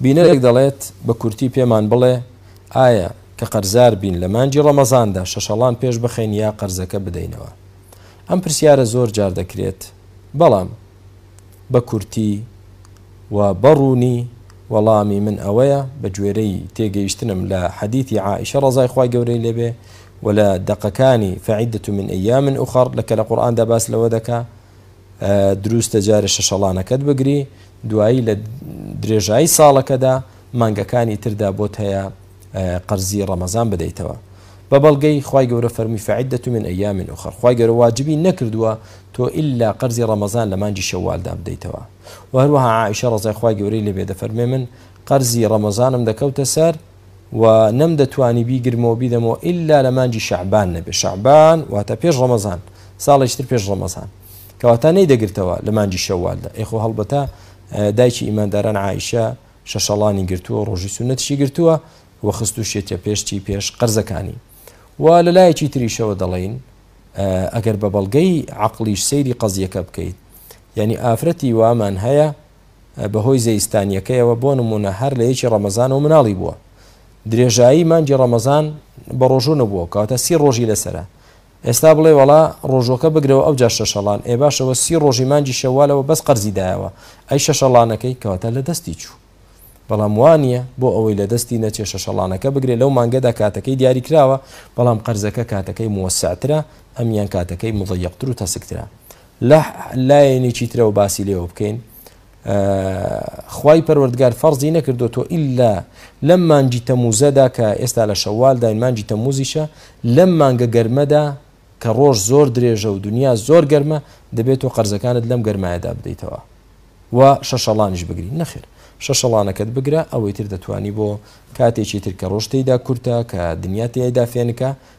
بینەرێک دەڵێت بە کورتی پێمان بڵێ ئایا کە قەرزار بین لە مانجی ڕەمەزاندا شەشەڵان پێش بخەین یا قەرزەکە بدەینەوە ئەم پرسیارە زۆر جار دەکرێت بەڵام بە کورتی و بەڕوونی وەڵامی من ئەوەیە بە گوێرەی تێگەیشتنم لە حەدیثی عائشە ڕزای خی گەورەی لێبێ و لە دەقەکانی فعیدت من ئەیا من ئوخەڕ لە کە لە قورآاندا باس لەوە دەکە دروستە جارێ شەشەڵانەکەت بگری دوایی لە درێژایی ساڵەکەدا مانگەکانی تردا بۆت هەیە قەرزی ڕەمەزان بدەیتەوە بە بەڵگەی خی گەورە فەرمی فعدە من ئەیا من ئوخەر خی گەورە واجبی نەکردووە تۆ ئللا قەرزی ڕەمەزان لە مانجی شەوالدا بدەیتەوە و هەروەها عیشە ڕزای خی گەورەی لەبێ دەفەرمێ من قەرزی ڕەمەزانم دەکەوتە سەر و نەمدەتوانی بیگرمەوە بیدەمەوە ئیلا لە مانگی شەعبان نەبێ شەعبان واتە پێش ڕەمەزان ساڵێکی تر پێش ڕەمەزان کەواتە نەیدەگرتەوە لە مانگی شەوالدا ئێ خۆ هەڵبەتە دایکی ئیمانداران عیشە شەشەڵانی گرتووە ڕۆژی سونەتشی گرتووە و خست و شێتە پێشتی پێش قەرزەکانی و لە لایەکی تریشەوە دەڵین ئەگەر بە بەڵگەی عقلیش سەیری قەزیەکە بکەیت یعنی ئافرەتی وامان هەیە بە هۆی زەیستانییەکەیەوە، بۆ نموونە هەر لە یەکی ڕەمەزانەوە مناڵی بووە. درێژایی مانگی ڕەمەزان بە ڕۆژوو نەبووە، کەواتە سی ڕۆژی لەسەرە. ئێستا بڵێ وەڵا ڕۆژووەکە بگرەوە ئەوجا شەشەڵان، ئێ باشە وە سی ڕۆژی مانگی شەوالەوە بەس قەرزی دایەوە، ئەی شەشەڵانەکەی؟ کەواتە لە دەستی چوو. بەڵام وا نییە، بۆ ئەوەی لە دەستی نەچێ شەشەڵانەکە بگرێ، لەو مانگەدا کاتەکەی دیاریکراوە، بەڵام قەرزەکە کاتەکەی موەسسەعترە، ئەمیان کاتەکەی موضیقتر و تەسکترە. لە لایەنێکی ترەوە باسی لێوە بکەین خوای پەروەردگار فەرزی نەکردو تۆ ئللا لەم مانگی تەموزەدا کە ئێستا لە شەوالداین مانگی تەموزیشە لەم مانگە گەرمەدا کە ڕۆژ زۆر درێژە و دنیا زۆر گەرمە دەبێت و قەرزەکانت لەم گەرمایەدا بدەیتەوە و شەشەڵانیش بگری نەخێر شەشەڵانەکەت بگرە ئەوەی تر دەتوانی بۆ کاتێکی تر کە ڕۆژتەیدا کورتە کە دنیا تێیدا فێنکە